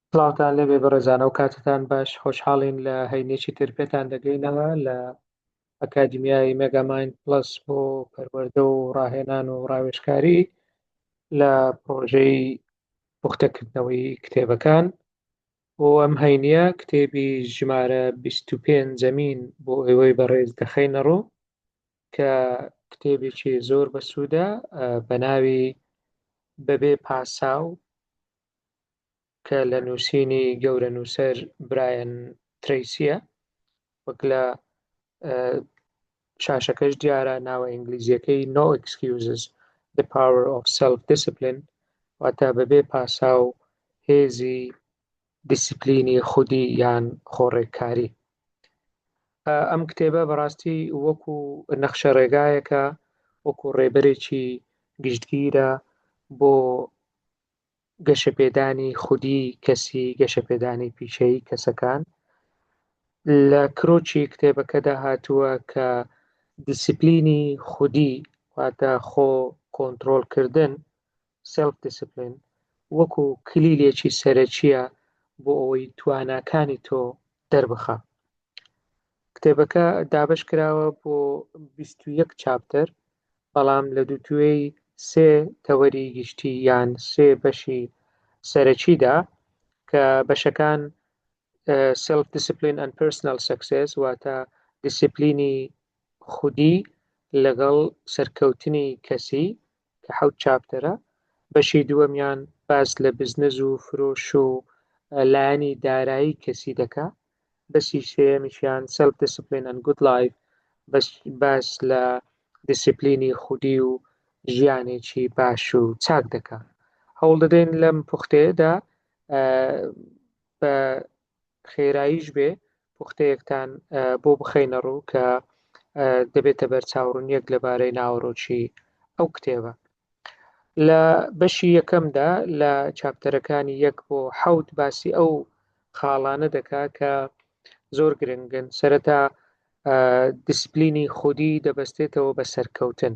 سڵاوتان لێبێ بەڕێزان ئەو کاتتان باش خۆشحاڵین لە هەینێکی تر پێتان دەگەینەوە لە ئەکادیمیای مێگاماین پلس بۆ پەروەردە و ڕاهێنان و ڕاوێشکاری لە پرۆژەی پوختەکردنەوەی کتێبەکان بۆ ئەم هەینە کتێبی ژمارە 25 زەمین بۆ ئێوەی بەڕێز دەخینەڕوو کە کتێبێکی زۆر بەسوودە بە ناوی بەبێ پاساو کە لە نووسینی گەورە نووسەر برایەن تریسیە وەک لە شاشەکەش دیارە ناوە ئینگلیزیەکەی no excuses the power of self discipline واتە بەبێ پاساو هێزی دیسپلینی خودی یان خۆڕێککاری ئەم کتێبە بەڕاستی وەکو نەخشە ڕێگایەکە وەکو ڕێبەرێکی گشتگیرە بۆ گەشەپێدانی خودی کەسی گەشەپێدانی پیشەیی کەسەکان لە کرۆچی کتێبەکەدا هاتووە کە دیسپلینی خودی واتە خۆ کۆنتترۆلکردن Self Discipline، وەکو کلیلێکی سەرەکییە بۆ ئەوەی تواناکانی تۆ دەربخا. کتێبەکە دابەش کراوە بۆ بیست و یەک چاپتەر، بەڵام لە دووتوێی سێ تەوەری گشتی یان سێ بەشی سەرەکیدا کە بەشەکان سێلف دیسپلین ئەند پێرسناڵ سەکسێس واتە دیسپلینی خودی لەگەڵ سەرکەوتنی کەسی کە حەوت چاپتەرە بەشی دووەمیان باس لە بزنس و فرۆش و لایەنی دارایی کەسی دەکا بەسی سێمیشیان سلف دیسپلین ئەن گود لایف باس لە دیسپلینی خودی و ژیانێکی باش و چاک دەکا هەوڵ دەدەین لەم پوختێدا بە خێراییش بێ پوختەیەکتان بۆ بخەینە ڕوو کە دەبێتە بەرچاوڕونیەک لەبارەی ناوەڕۆکی ئەو کتێبە لە بەشی یەکەمدا لە چاپتەرەکانی یەک بۆ حەوت باسی ئەو خاڵانە دەکا کە زۆر گرنگن سەرەتا دیسپلینی خودی دەبەستێتەوە بە سەرکەوتن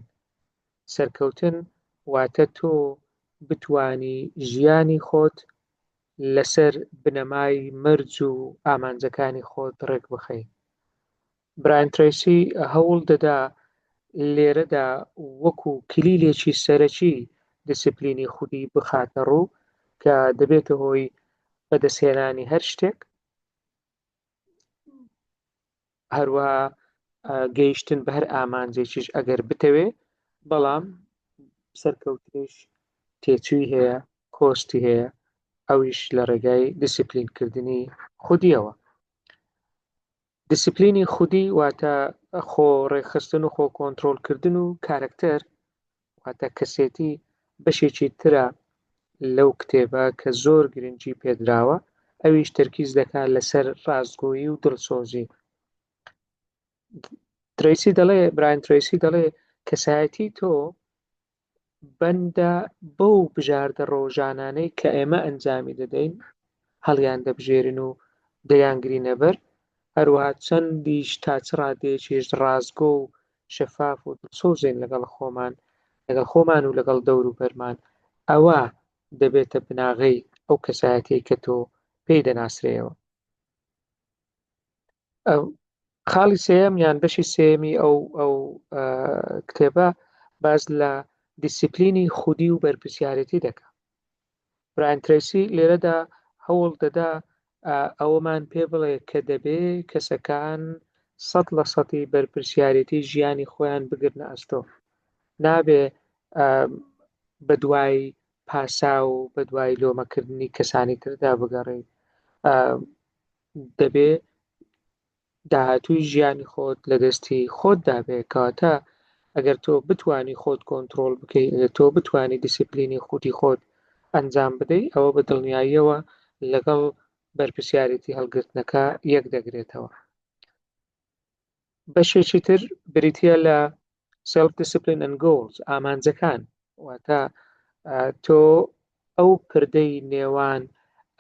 سەرکەوتن واتە تۆ بتانی ژیانی خۆت لەسەر بنەمای مەرج و ئامانجەکانی خۆت ڕێکبخەی. برایان ترەیسی هەوڵ دەدا لێرەدا وەکو کلیلێکی سەرەکی دیسیپلینی خودی بخاتە ڕوو کە دەبێتە هۆی بەدەستهێنانی هەر شتێک، هەروەها گەیشتن بە هەر ئامانجێکیش ئەگەر بتەوێ بەڵام سەرکەوتنیش تێچووی هەیە کۆستی هەیە ئەویش لە ڕێگای دیسیپلینکردنی خودیەوە دیسیپلینی خودی واتە خۆ ڕێکخستن و خۆ کۆنتترۆلکردن و کارکتەر واتە کەسێتی بەشێکی ترە لەو کتێبە کە زۆر گرنگی پێدراوە ئەویش تەرکیز دەکات لەسەر ڕاستگۆیی و دڵسۆزی تریسی دەڵێ براین تریسی دەڵێ کەسایەتی تۆ بەندە بەو بژاردە ڕۆژانانەی کە ئێمە ئەنجامی دەدەین هەڵیان دەبژێرن و دەیانگرینەبەر هەروە چەندیش تا چ ڕادێکیش ڕاستگۆ و شەفاف و دڵسۆزین لەگەڵ خۆمان، لەگەڵ خۆمان و لەگەڵ دەوروبەرمان، ئەوا دەبێتە بناغەی ئەو کەسایەتیەی کە تۆ پێی دەناسرێیەوە. خاڵی سێیەم یان بەشی سێمی ئەو ئەو کتێبە باز لە دیسیپلینی خودی و بەرپسیارەتی دەکە برایان ترەیسی لێرەدا هەوڵ دەدا ئەوەمان پێ بڵێ کە دەبێ کەسەکان سەد لە سەدی بەرپرسیارێتی ژیانی خۆیان بگرنە ئەستۆ نابێ بە دوای پاسا و بە دوای لۆمەکردنی کەسانی تردا بگەڕێ دەبێ داهاتووی ژیانی خۆت لە دەستی خۆتدا بێ کەواتە ئەگەر تۆ بتانی خۆت کۆنتترۆل بکەی ئەگە تۆ بتانی دیسیپلینی خودی خۆت ئەنجام بدەی ئەوە بە دڵنیاییەوە لەگەڵ بەرپسیارێتی هەڵگرتنەکە یەک دەگرێتەوە بەشێکی تر بریتە لە Self Discipline and Goals ئامانجەکان واتە تۆ ئەو پردەی نێوان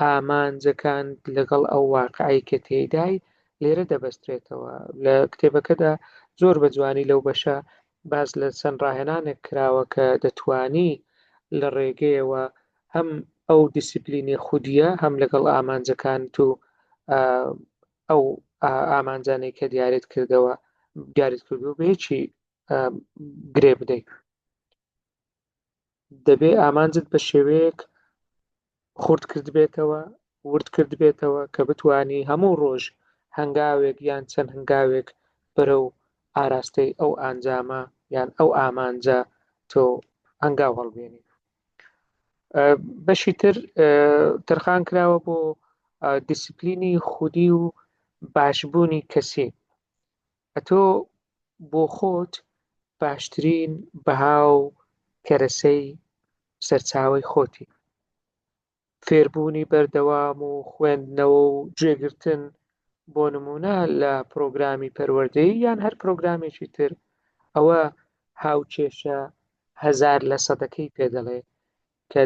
ئامانجەکان لەگەڵ ئەو واقعی کە تێدای لێرە دەبەسترێتەوە لە کتێبەکەدا زۆر بە جوانی لەو بەشە باز لە چەند ڕاهێنانێک کراوە کە دەتانی لە ڕێگەیەوە هەم ئەو دیسیپلینی خودیە هەم لەگەڵ ئامانجەکان تو ئەو ئامانجانەی کە دیارت کردەوە دیارت کردو بێ چی گرێ بدەیت دەبێ ئامانجت بە شێوەیەک خورد کرد بێتەوە ورد کرد بێتەوە کە بتانی هەموو ڕۆژ هەنگاوێک یان چەند هەنگاوێک بەرە و ئاراستەی ئەو ئەنجامە یان ئەو ئامانجە تۆ ئەنگاو هەڵبێنی بەشی تر ترخان کراوە بۆ دیسپلینی خودی و باشبوونی کەسی ئەتۆ بۆ خۆت باشترین بەها و کەرەسەی سەرچاوی خۆتی فێربوونی بەردەوام و خوێندنەوە و گوێگرتن بۆ نموونە لە پرۆگرامی پەروەردەیی یان هەر پرۆگرامێکی تر ئەوە هاوکێشە هەزار لە سەدەکەی پێ دەڵێ کە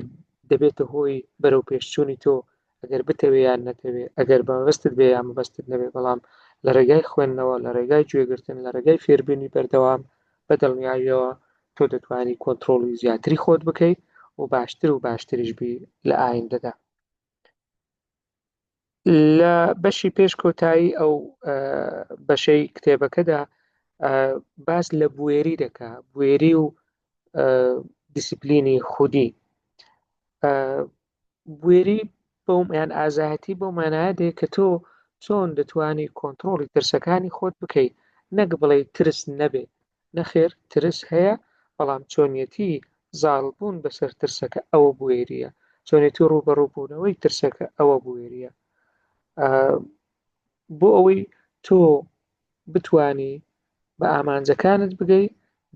دەبێتە هۆی بەرەو پێشچوونی تۆ ئەگەر بتەوێ یان نەتەوێ ئەگەر بەمەبەستت بێ یان مەبەستت نەبێ بەڵام لە ڕێگای خوێندنەوە لە ڕێگای گوێگرتن لە ڕێگای فێربوونی بەردەوام بە دڵنیاییەوە تۆ دەتوانی کۆنترۆڵی زیاتری خۆت بکەیت و باشتر و باشتریش بی لە ئایندەدا لە بەشی پێش کۆتایی ئەو بەشەی کتێبەکەدا باس لە بوێری دەکا بوێری و دیسیپلینی خودی بوێری بەو یان ئازایەتی بەو مانایە دێ کە تۆ چۆن دەتوانی کۆنتترۆڵی ترسەکانی خۆت بکەیت نەک بڵێ ترس نەبێ نەخێر ترس هەیە بەڵام چۆنیەتی زاڵبوون بەسەر ترسەکە ئەوە بوێریە چۆنێتی ڕوبەڕووبوونەوەی ترسەکە ئەوە بوێریە بۆ ئەوەی تۆ بتانی بە ئامانجەکانت بگەی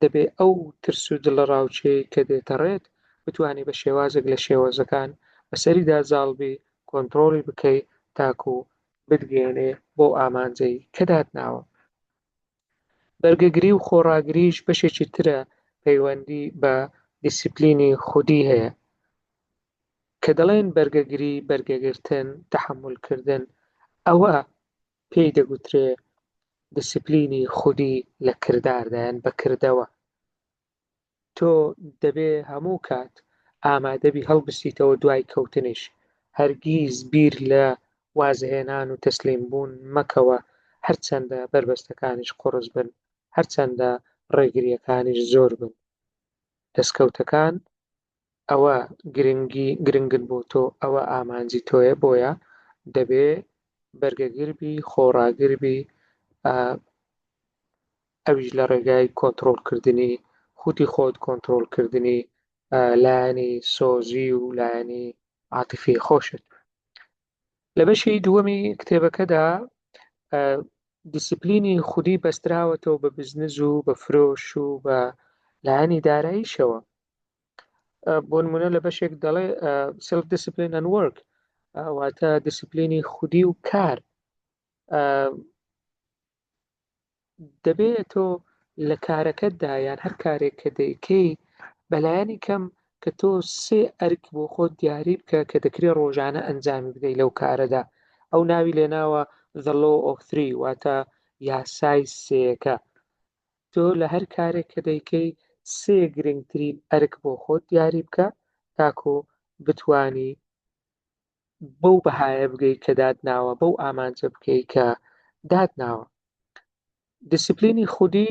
دەبێ ئەو ترس و دڵە ڕاوچەیەی کە دێتەڕێت بتوانی بە شێوازێک لە شێوەزەکان بەسەریدا زاڵبی کۆنتڕۆڵی بکەی تاکو بتگەێنێ بۆ ئامانجەی کە داتناوە بەرگەگری و خۆڕاگریش بەشێکی ترە پەیوەندی بە دیسیپلینی خودی هەیە کە دەڵێن بەرگەگری بەرگەگرتن تحملکردن ئەوە پێی دەگوترێ دیسپلینی خودی لە کرداردا یان بە کردەوە. تۆ دەبێ هەموو کات ئامادەبی هەڵبستیتەوە دوای کەوتنیش. هەرگیز بیر لە وازهێنان و تەسلیم بوون مەکەوە هەرچەندە بەربەستەکانیش قوڕس بن، هەرچەندە ڕێگرییەکانیش زۆر بن. دەستکەوتەکان ئەوە گرنگی گرنگن بۆ تۆ ئەوە ئامانجی تۆیە بۆیە دەبێ بەرگەگربی خۆڕاگربی ئەویش لە ڕێگای کۆنتترۆلکردنی خوتی خۆت کۆنتترۆلکردنی لایەنی سۆزی و لایەنی عاتفی خۆشت لە بەشی دووەمی کتێبەکەدا دیسپلینی خودی بەستراوەتەوە بە بزنز و بە فرۆش و بە لایەنی داراییشەوە بۆ نمونە لە بەشێک دەڵێ سلف دیسپلین ئەن وەرک واتە دیسپلینی خودی و کار دەبێت تۆ لە کارەکەتدا یان هەر کارێک کە دەیکەی بەلایەنی کەم کە تۆ سێ ئەرک بۆ خۆت دیاری بکە کە دەکرێت ڕۆژانە ئەنجامی بدەیت لەو کارەدا ئەو ناوی لێناوە the law of three واتە یاسای سێەکە تۆ لە هەر کارێک کە دەیکەی سێ گرنگترین ئەرک بۆ خۆت دیاری بکە تاکو بتوانی بەو بەهایە بگەی کە داتناوە بەو ئامانجە بکەی کە داتناوە دیسیپلینی خودی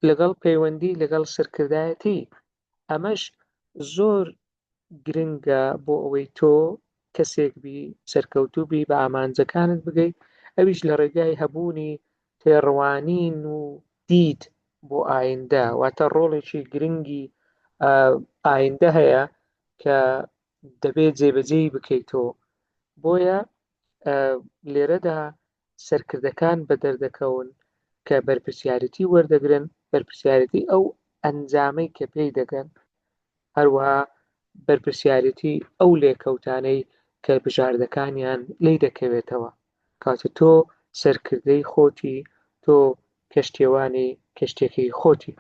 لەگەڵ پەیوەندی لەگەڵ سەرکردایەتی ئەمەش زۆر گرنگە بۆ ئەوەی تۆ کەسێک بی سەرکەوتوو بی بە ئامانجەکانت بگەی ئەویش لە ڕێگای هەبوونی تێڕوانین و دیت بۆ ئایندە واتە ڕۆڵێکی گرنگی ئایندە هەیە کە دەبێت جێبەجێی بکەیتەوە بۆیە لێرەدا سەرکردەکان بەدەردەکەون کە بەرپرسیارێتی وەردەگرن، بەرپرسیارێتی ئەو ئەنجامەی کە پێی دەگەن، هەروەها بەرپرسیارێتی ئەو لێکەوتانەی کە بژاردەکانیان لێی دەکەوێتەوە. کەواتە تۆ سەرکردەی خۆتی، تۆ کەشتیەوانی کەشتیەکەی خۆتی.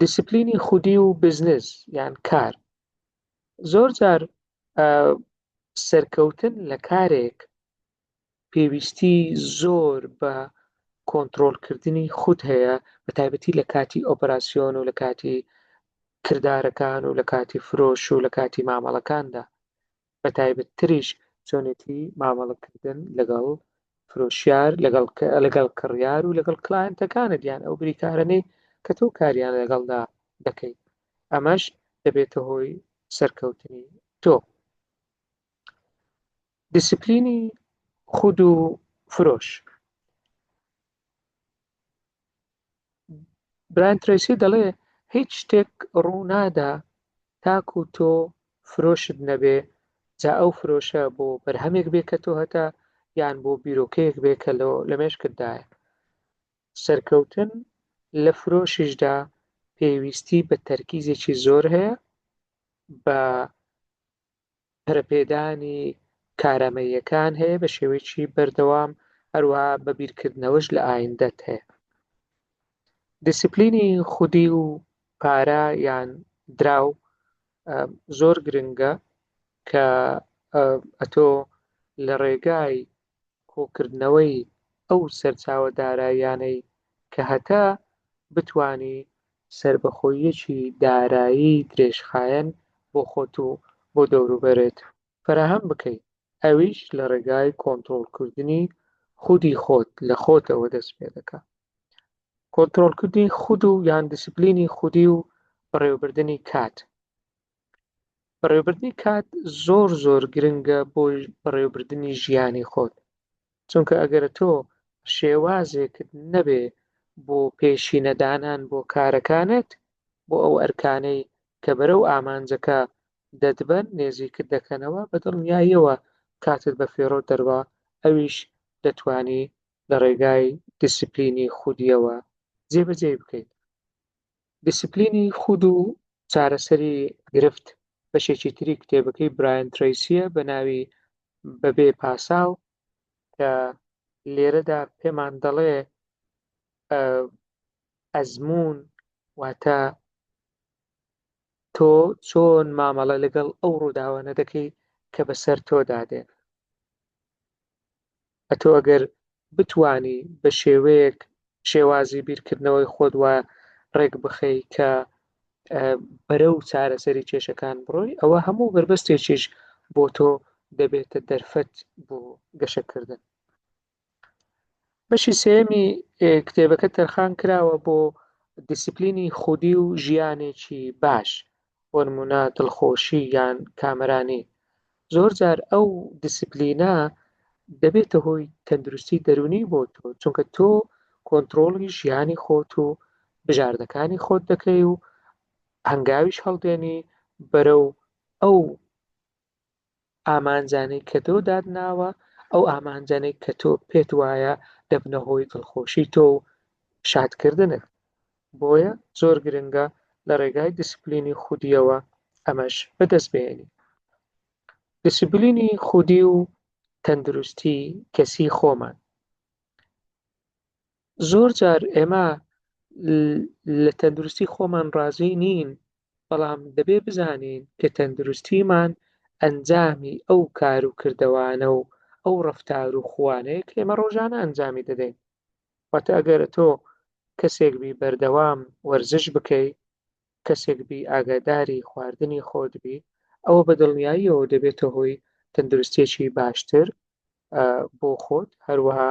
دیسپلینی خودی و بزنس یان کار زۆر جار سەرکەوتن لە کارێک پێویستی زۆر بە کۆنتترۆلکردنی خود هەیە بە تایبەتی لە کاتی ئۆپەراسسیۆن و لە کاتی کردارەکان و لە کاتی فرۆش و لە کاتی مامەڵەکاندا بە تایبەت تریش چۆنێتی مامەڵەکردن لەگەڵ فرۆشیار لەگەڵ لەگەڵ کڕیار و لەگەڵ کلاینتەکانت یان ئەو بریکارەی کە تۆ کاریان لەگەڵدا دەکەیت ئەمەش دەبێتە هۆی سەرکەوتنی تۆ دیسپلینی خود و فرۆش بران ترسی دەڵێ هیچ شتێک ڕوونادا تاکو تۆ فرۆشت نەبێ جا ئەو فرۆشە بۆ بەرهەمێک بێ کە تۆ هەتا یان بۆ بیرۆکەیەک بێ کە لە مێشکتدایە سەرکەوتن لە فرۆشیشدا پێویستی بە تەرکیزێکی زۆر هەیە بە پەرپێدانی کارامەیەکان هەیە بە شێوەیەکی بەردەوام هەروە بە بیرکردنەوەش لە ئایندەت هەیە دیسیپلینی خودی و پارە یان دراو زۆر گرنگە کە ئەتۆ لە ڕێگای کۆکردنەوەی ئەو سەرچاوە داراییانەی کە هەتە بتوانی سەربەخۆییەکی دارایی درێژخایەن بۆ خۆت و بۆ دەوروبەرت فەراهەم بکەی، ئەویش لە ڕێگای کۆنترۆڵکردنی خودی خۆت لە خۆتەوە دەست پێدەکا. کۆنترۆڵکردنی خود و یان دیسپلینی خودی و بەڕێوەبردنی کات. بەڕێوبردنی کات زۆر زۆر گرنگە بۆ بەڕێوبردننی ژیانی خۆت چونکە ئەگەرە تۆ شێوازێکت نەبێ بۆ پێشی نەدانان بۆ کارەکانت بۆ ئەو ئەرکانەی کە بەرە و ئامانجەکە دەتبەن نێزیکت دەکەنەوە بە دڵنیاییەوە کاتت بە فێڕۆ دەروا ئەویش دەتانی لە ڕێگای دیسیپلینی خودیەوە جێبەجێ بکەیت دیسپلینی خود و چارەسەری گرفت بەشێکی تری کتێبەکەی برایەن تریسیە بە ناوی بەبێ پاساو کە لێرەدا پێمان دەڵێ ئەزمون واتە تۆ چۆن مامەڵە لەگەڵ ئەو ڕووداوانە دەکەی کە بەسەر تۆدادێن ئەتۆ ئەگەر بتوانی بە شێوەیەک شێوازی بیرکردنەوەی خۆت وا ڕێک بخەی کە بەرەو چارەسەری کێشەکان بڕۆی ئەوە هەموو بەربەستێکیش بۆ تۆ دەبێتە دەرفەت بۆ گەشەکردن بەشی سێمی کتێبەکە تەرخان کراوە بۆ دیسپلینی خودی و ژیانێکی باش بۆنمونە دڵخۆشی یان کامەرانی زۆر جار ئەو دیسپلینە دەبێتە هۆی تەندروستی دەرونی بۆ تۆ چونکە تۆ کۆنتترۆڵی ژیانی خۆت و بژاردەکانی خۆت دەکەی و هەنگاویش هەڵدێنی بەرەو ئەو ئامانجانەی کە تۆ داتناوە ئەو ئامانجانەی کە تۆ پێت وایە دەبنە هۆی دڵخۆشی تۆ و شادکردنت بۆیە زۆر گرنگە لە ڕێگای دیسپلینی خودیەوە ئەمەش بەدەست بێنی دیسپلینی خودی و تەندروستی کەسی خۆمان زۆر جار ئێمە لە تەندروستی خۆمان ڕازی نین بەڵام دەبێ بزانین کە تەندروستیمان ئەنجامی ئەو کار و کردەوانە و ئەو ڕفتار و خوانەیە کە ئێمە ڕۆژانە ئەنجامی دەدەین واتە ئەگەر تۆ کەسێک بی بەردەوام وەرزش بکەی کەسێک بی ئاگاداری خواردنی خۆت بی ئەوە بە دڵنیاییەوە دەبێتە هۆی تەندروستێکی باشتر بۆ خۆت هەروەها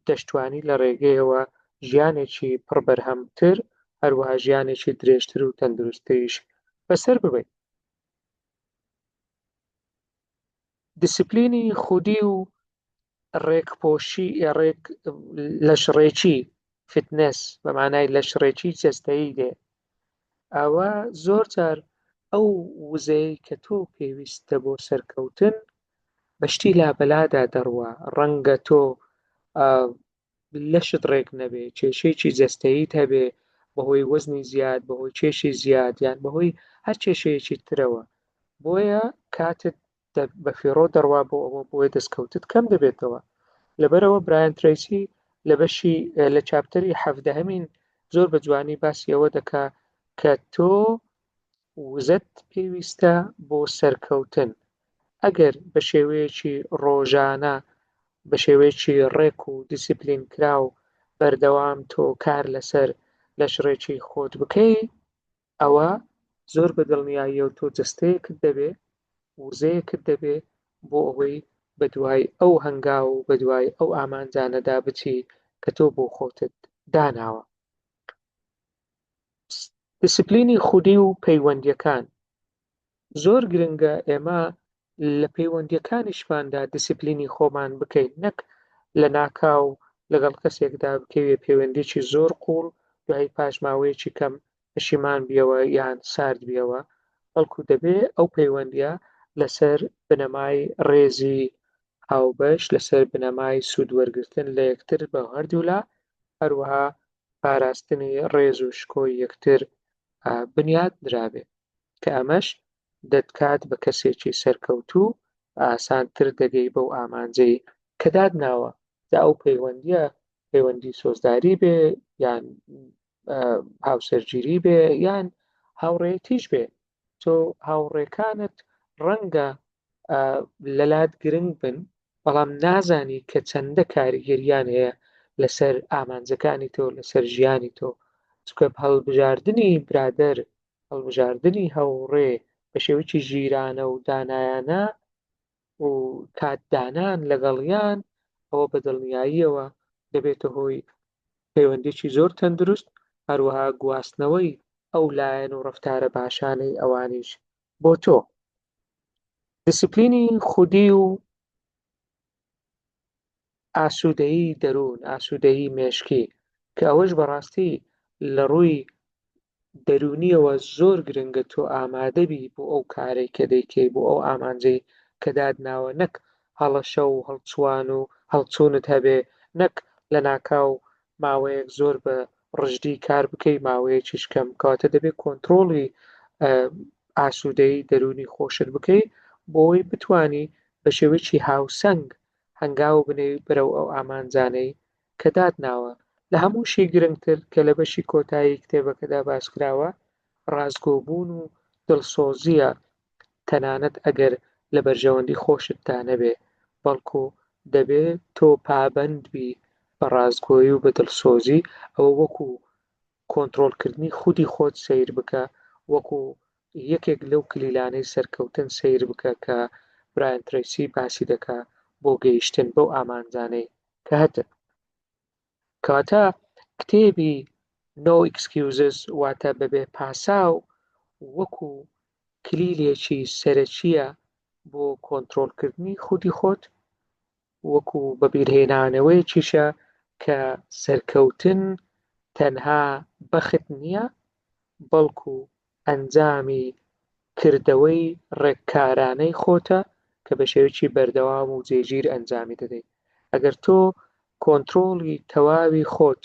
دەشتوانی لە ڕێگەیەوە ژیانێکی پڕ بەرهەمتر هەروەها ژیانێکی درێژتر و تەندروستتریش بەسەر ببین دیسپلینی خودی و ڕێکپۆشی ڕێک لەشڕێکی فتنس بە مانای لەشڕێکی جەستایی دێ ئەوە زۆر جار ئەو وزەیە کە تۆ پێویستە بۆ سەرکەوتن بەشتی لابەلادا دەڕوە ڕەنگە تۆ لەشت ڕێک نەبێ کێشەیەکی جەستەییت هەبێ بەهۆی وەزنی زیاد بەهۆی کێشی زیاد یان بەهۆی هەر کێشەیەکی ترەوە بۆیە کاتت بە فێڕۆ دەڕوا بۆ ئەوە بۆیە دەستکەوتت کەم دەبێتەوە لەبەرەوە برایان تریسی لە بەشی لە چاپتەری حەفدەهەمین زۆر بە جوانی باسی ئەوە دەکا کە تۆ وزەت پێویستە بۆ سەرکەوتن، ئەگەر بە شێوەیەکی ڕۆژانە بە شێوەیەکی ڕێک و دیسیپلین کراو بەردەوام تۆ کار لەسەر لەشڕێکی خۆت بکەی ئەوە زۆر بە دڵنیاییەوە تۆ جەستەیەکت دەبێ وزەیەکت دەبێ بۆ ئەوەی بە دوای ئەو هەنگاو و بە دوای ئەو ئامانجانەدا بچی کە تۆ بۆ خۆتت داناوە دیسپلینی خودی و پەیوەندیەکان زۆر گرنگە ئێمە لە پەیوەندیەکانیشماندا دیسپلینی خۆمان بکەین نەک لە ناکاو لەگەڵ کەسێکدا بکەوێ پەیوەندێکی زۆر قوڵ دوای پاشماوەیەکی کەم پەشیمان بیەوە یان سارد بیەوە بەڵکو دەبێ ئەو پەیوەندیە لەسەر بنەمای ڕێزی هاوبەش لەسەر بنەمای سوود وەرگتن لە یەکتر بە هەردوولا هەروەها پاراستنی ڕێز و شکۆی یەکتر بنیات درابێ کە ئەمەش دەتکات بە کەسێکی سەرکەوتوو ئاسانتر دەگەی بەو ئامانجەی کە دادناوە دا ئەو پەیوەندیە پەیوەندی سۆزداری بێ یان هاوسەرگیری بێ یان هاوڕێتیش بێ تۆ هاوڕێکانت ڕەنگە لەلات گرنگ بن بەڵام نازانی کە چەندە کاریگەریان هەیە لەسەر ئامانجەکانی تۆ لەسەر ژیانی تۆ چکە هەڵبژاردننی برادەر هەڵبژاردننی هەوڕێ بە شێوەی ژیرانە و دانایانە و کات دانان لەگەڵیان ئەوە بە دڵنیاییەوە دەبێتە هۆی پەیوەندیی زۆر تەندروست، هەروەها گواستنەوەی ئەو لایەن و ڕەفتارە باشانەی ئەوانیش بۆ تۆ. دیسیپلینی خودی و ئاسوودەیی دەروون، ئاسوودەیی مێشکی، کە ئەوەش بەڕاستی لە ڕووی دەروونییەوە زۆر گرنگە تۆ ئامادە بی بۆ ئەو کارەی کە دەیکەی، بۆ ئەو ئامانجەی کە داتناوە، نەک هەڵەشە و هەڵچووان و هەڵچوونت هەبێ، نەک لەناکاو ماوەیەک زۆر بە ڕژدی کار بکەی، ماوەیەکیش کەم، کەواتە دەبێ کۆنترۆڵی ئاسوودەیی دەروونی خۆشت بکەی بۆ ئەوەی بتوانی بە شێوەیەکی هاوسەنگ هەنگاو بنێی بەرەو ئەو ئامانجانەی کە داتناوە. لە هەمووشی گرنگتر کە لە بەشی کۆتایی کتێبەکەدا باسکراوە، ڕاستگۆبوون و دڵسۆزییە، تەنانەت ئەگەر لە بەرژەوەندی خۆشتدا نەبێ، بەڵکو دەبێ تۆ پابەندبی بە ڕاستگۆیی و بە دڵسۆزی، ئەوە وەکو کۆنترۆڵکردنی خودی خۆت سەیر بکە وەکو یەکێک لەو کلیلانەی سەرکەوتن سەیر بکە کە برایان ترەیسی باسی دەکا بۆ گەیشتن بەو ئامانجانەی کە هەتن کەواتە کتێبی No Excuses واتە بەبێ پاساو وەکو کلیلێکی سەرەکیە بۆ کۆنترۆلکردنی خودی خۆت وەکو بەبیرهێنانەوەیەکیشە کە سەرکەوتن تەنها بەخت نییە، بەڵکو ئەنجامی کردەوەی ڕێککارانەی خۆتە کە بە شێوەیەکی بەردەوام و جێگیر ئەنجامی دەدەیت. ئەگەر تۆ کۆنترۆڵی تەواوی خۆت،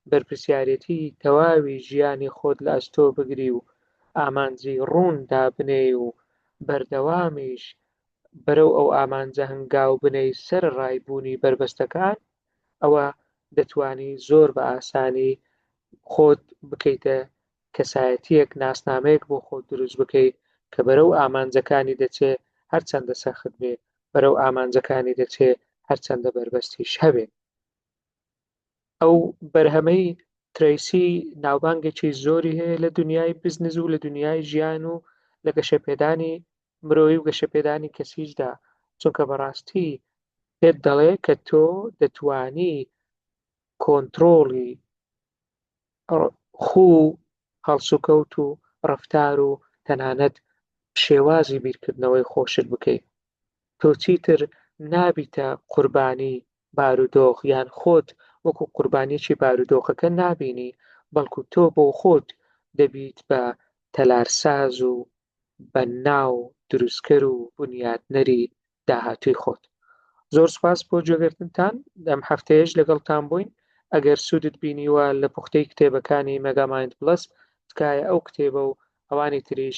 بەرپرسیارێتی تەواوی ژیانی خۆت لە ئەستۆ بگری و ئامانجی ڕوون دابنێی و بەردەوامیش بەرەو ئەو ئامانجە هەنگاو بنێی سەرەڕای بوونی بەربەستەکان ئەوا دەتوانی زۆر بە ئاسانی خۆت بکەیتە کەسایەتیەک ناسنامەیەک بۆ خۆت دروست بکەی کە بەرەو ئامانجەکانی دەچێ هەرچەندە سەخت بێ بەرەو ئامانجەکانی دەچێ هەرچەندە بەربەستیش هەبێ. ئەو بەرهەمەی ترەیسی ناوبانگێکی زۆری هەیە لە دنیای بزنز و لە دنیای ژیان و لە گەشەپێدانی مرۆی و گەشەپێدانی کەسیشدا چونکە بەڕاستی پێت دەڵێ کە تۆ دەتانی کۆنتترۆڵی خو هەڵسوکەوت و ڕفتار و تەنانەت شێوازی بیرکردنەوەی خۆشت بکەیت تۆ چیتر نابیتە قوربانی بارودۆخ یان خۆت وەکو قوربانیەکی بارودۆخەکە نابینی بەڵکو تۆ بۆ خۆت دەبیت بە تەلارساز و بەناو دروستکەر و بنیاتنەری داهاتووی خۆت زۆر سپاس بۆ جۆگرتنتان دەم هەفتەیەش لەگەڵتان بووین ئەگەر سوودت بینیوە لە پوختەی کتێبەکانی مەگامایند بڵس تکایە ئەو کتێبە و ئەوانی تریش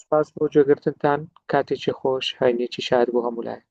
سپاس بۆ جێگرتنتان کاتێکی خۆش هاینێکی شار بۆ هەموو لایەک